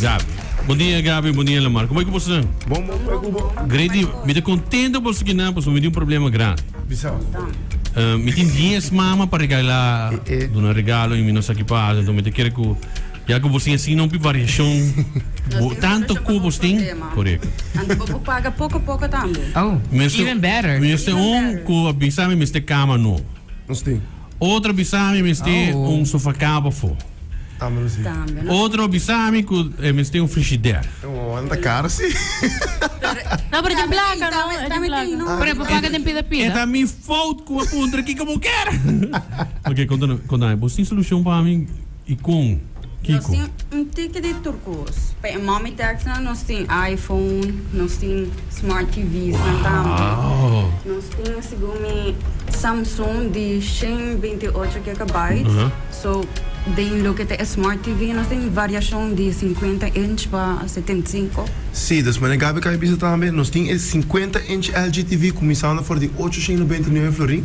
Gaby. Bon dia Gaby, bon dia Lamar. Como é que boso nan? Bon bon, como é que bo? Grady, mi ta contento boso ki nan, paso mi tin un problema grandi. Bisa. Uh, mi tin 10 mama pa regala, Eh, eh. duna regalo y mi no sa ki pasa, entonces mi ta kere ku ya ku boso tin así no pi variacion, Nos bo, tin tanto solution ku pa boso nos tin, problema. correcto. Anto bo por paga poco poco tambe. Oh, Mister- even better. Mister Even un better. ku avisa mi mister kama no. Nos tin. Otro bisa mi mester un sofacama pafo. Otro bisa mi cu e mester un frigider. No, pero djen placa, no? E djen placa. Pero e papa ka den pida pida. E ta mi fout cu a puntra kico bo ker. Oke, conta nan, conta nan. Bo tin solucion pa mi? I kon? Kiko? Nos tin un tiki di tur kos. Pa e mommy taxnan nos tin iPhone, nos tin smart TVsnan tambe. Nos tin asigu mi Samsung di shen binti ocho gigabyte. So, den loke ta e smart TV nos tin variashon di sinkuenta inch pa setenta i sinku. Sí, ta esmané Gabi Kay bisa tambe. Nos tin e sinkuenta inch LG TV kuminsando for di ocho shen nobenta i nuebe florin.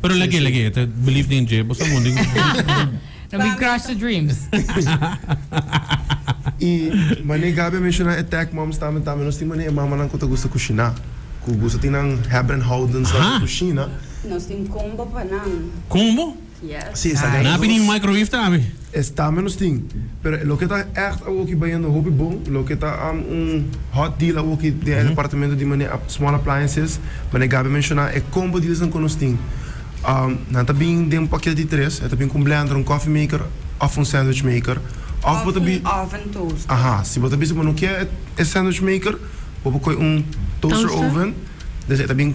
Pero lagé, lagé, ta believe den dje, boso mundi. No be crush the dreams. Y mane Gaby a menciona e tech moms tambe, tambe nos tin mane e mamanan cu ta gusta cushina, cu gusta tin nan hebben en houden sa cu cushina. Nos tin combo pa nan. Combo? Yes. Si, esaki Nabi ni microwave ta abi. Estambe nos tin, pero loke ta ègt awoki bayendo hopi bon, loke ta un hot deal awoki den e departamento di manera small appliances, manera Gaby a menshoná e combo dealsnan ku nos tin. Nan ta bin den un paket di tres, e ta bin ku un blender, un coffee maker òf un sandwich maker, òf bo ta bi, Òf un oven toaster. Aha, si bo ta bisa bo no ke e sandwich maker, bo por kohe un toaster oven, den esei ta bin.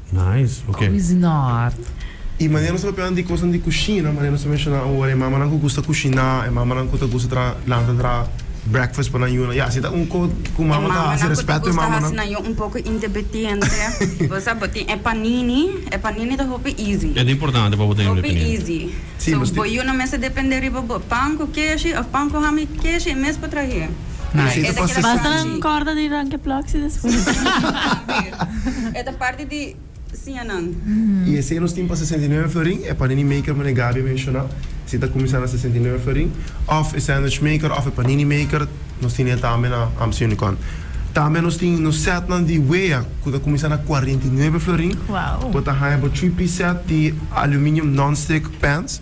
Nice, ok. Kusiná hard. I manera nos ta papia di kosnan di kushina, manera nos ta menshoná ora, e mamanan ku gusta kushiná, e mamanan ku ta gusta traha, lanta traha breakfast pa nan yunan, ya si ta un kos ku mama ta hasi, respeto e mamanan. E mamanan ku ta gusta hasi nan yunan un poko independiente, bo sa bo tin e panini, e panini ta hopi easy. E ta importante pa bo tene un independiente. Hopi easy. So bo yunan mester dependé riba bo. Pan ku keshi òf pan ku ham i keshi e mes pa trah'é. Nice. Esta keda Basta nan parchi. corda di Ranke Ploxi despues. Aver. Eta parti di siña nan. Y esey nos tin pa sesenta i nueve florin, e panini maker meneer Gaby a menciona, esey ta cuminsa na sesenta i nueve florin, of e sandwich maker of e panini maker, nos tin e tambe na Amstel Unicon. Tambe nos tin nos setnan di wea cu ta cuminsa na cuarenta i nueve florin, Wow. bo ta haya bo three piece set di aluminium non-stick pans,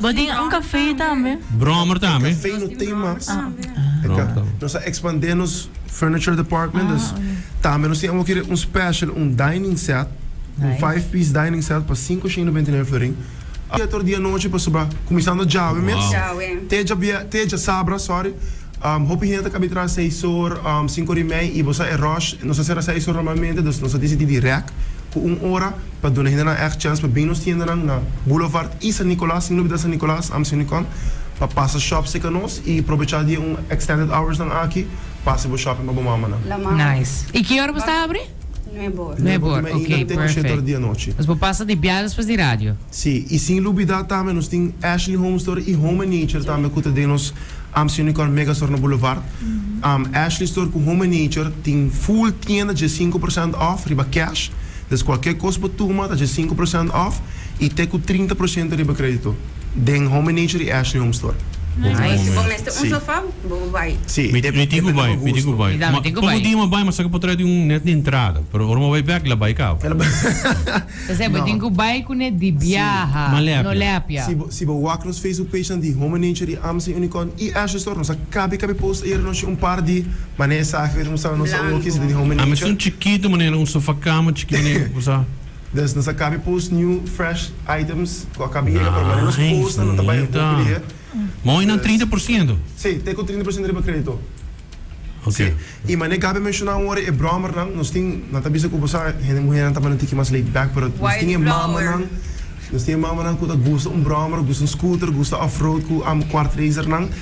Bo tin un café tambe? Brommer tambe. E café no tin mas. Nos a expande nos furniture department dus tambe nos tin amo kere un special un dining set, un five piece dining set pa sinku shin y noventa y nueve florin. Siete ora di anochi pa soba cuminsando djawe mes te djabia te djasabra sorry. Hopi hende ta kabe tras seis or, sinku or i mei i bo sa e rush. Nos a sera seis or normalmente, dus nos a disidi dirèk ku un ora pa duna hendenan ègt chèns pa bini nos tiendanan na Boulevard i San Nicolas, sin olbidá San Nicolas, Amsounicon, pa pasa shòp serka nos i probechá di e un extended hours nan aki, pasa bo shopping pa bo mamanan. Nice. I ki ora bo sta abri? Nuebor. Nuebor, Nuebor, ok, perfect. Tengo shet ora di anochi. Nos por pasa di biaha despues di radio. Si, y sin lubida tambe nos tin Ashley Home Store y Home and Nature tambe cu ta den nos Amsio Nicol Mega Store na Boulevard. Ashley Store cu Home and Nature tin full tienda dje sinku procent off riba cash, des cualkier cos bo tuma ta dje sinku procent off y te cu trinta procento riba credito. Den home nature y Ashley home store. Nice. Bo mester un sofa bo bo bai. Si. Mi tin cu bai, mi tin cu bai. Ma poco dia mi bai mi a saca pa trahe di un net di entrada. Pero ora mi bai bek la bai caba. Ta ser bo tin cu bai cu net di biaha. No lepia. Si bo wak nos Facebook page nan di Home Nature y Amazing Unicorn y Ashley store nos a cabi cabi post ayer anochi un par di mane esaki. Blanco. Ami sun chikito manera un sofa cama chikito manera cosa. Des nos a cambia pa ons new fresh items cu a cambia yega pero manera nos costa lo ta bay un poco dia. Mooi nan trinta por ciento? Si, te cu trinta por ciento riba credito. Ok. Si, y manera e Gaby menciona awor e brommernan, nos tin, nan ta bisa cu bo sa, hende muhernan ta manera tiki mas laid back pero nos tin e mamanan, nos tin e mamanan cu ta gusta un brommer, gusta un scooter, gusta off road cu amo quart racernan.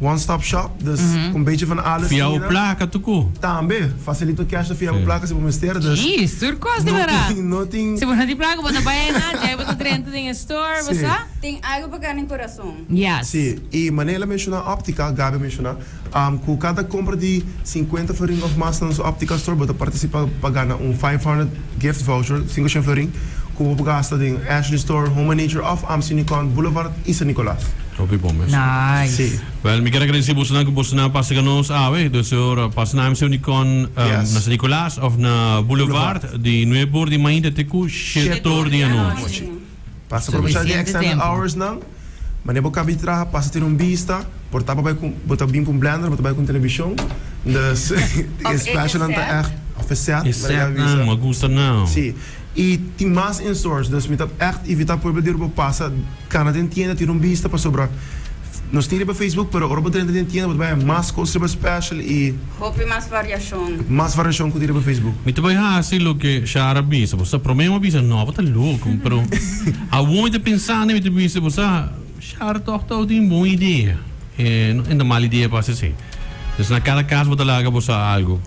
One stop shop, dus un bechi van alles hira. Fiabo plaka tuku. Tambe, facilito cash na fiabo plaka si bo mester, dus. Sí, sur cos di wara. No tin. Si bo no tin plaka bo ta bay ena djai bo ta drenta den e store, bo sa. Tin algo pa gana den corazon. Yes. Sí, y mane el a menciona optica, Gaby a menciona, cu cada compra di cincuenta faringa of mas na nos optica store bo ta participa pa gana un five hundred. Gift voucher sinku shen florin ku bo por gasta den Ashley Store, Home and Nature of Amst Unicon Boulevard y San Nicolas. Hopi bon mes. Nice. Bel mi ker agradeci bosonan cu bosonan a pasa ca nos awe. Deseo a pasa na Amst Unicon na San Nicolas of na Boulevard di nuebe or di mainta te cu shete or di anochi. Pasa pa kuminsá di extended hours nan, mane bo kaba di traha pasa tin un bista, por ta bo bai ku bo ta bin ku un blender bo ta bai ku un televishon, dus e specialnan ta ègt òf e set E mane set nan no a gusta nau. Sí, i tin mas in stores, dus mi ta ègt ivitá pueblo di Urbo pasa kana den tienda tin un bista pasobra Nos tin riba Facebook pero ora bo drenta den tienda bo ta bay mas cos riba special y. Hopi mas variacion. Mas variacion cu tin riba Facebook. Mi ta bai haci loke Shara bisa bo sa prome bo a bisa no bo ta loco mi pero awor mi ta pensa ne mi ta bisa bo sa Shara tog ta tin un bon idea e no en ta mal idea pa haci así pues na cada cas bo ta laga bo sa algo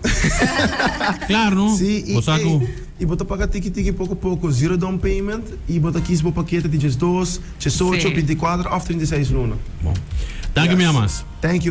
claro no bo sa cu. Y bo ta paga tiki tiki poco poco zero down payment y bo ta kis bo paquete di djes dos. Tjesocho, binti kuater òf trinta i seis luna. Bon. Danki mi amas. Thank you.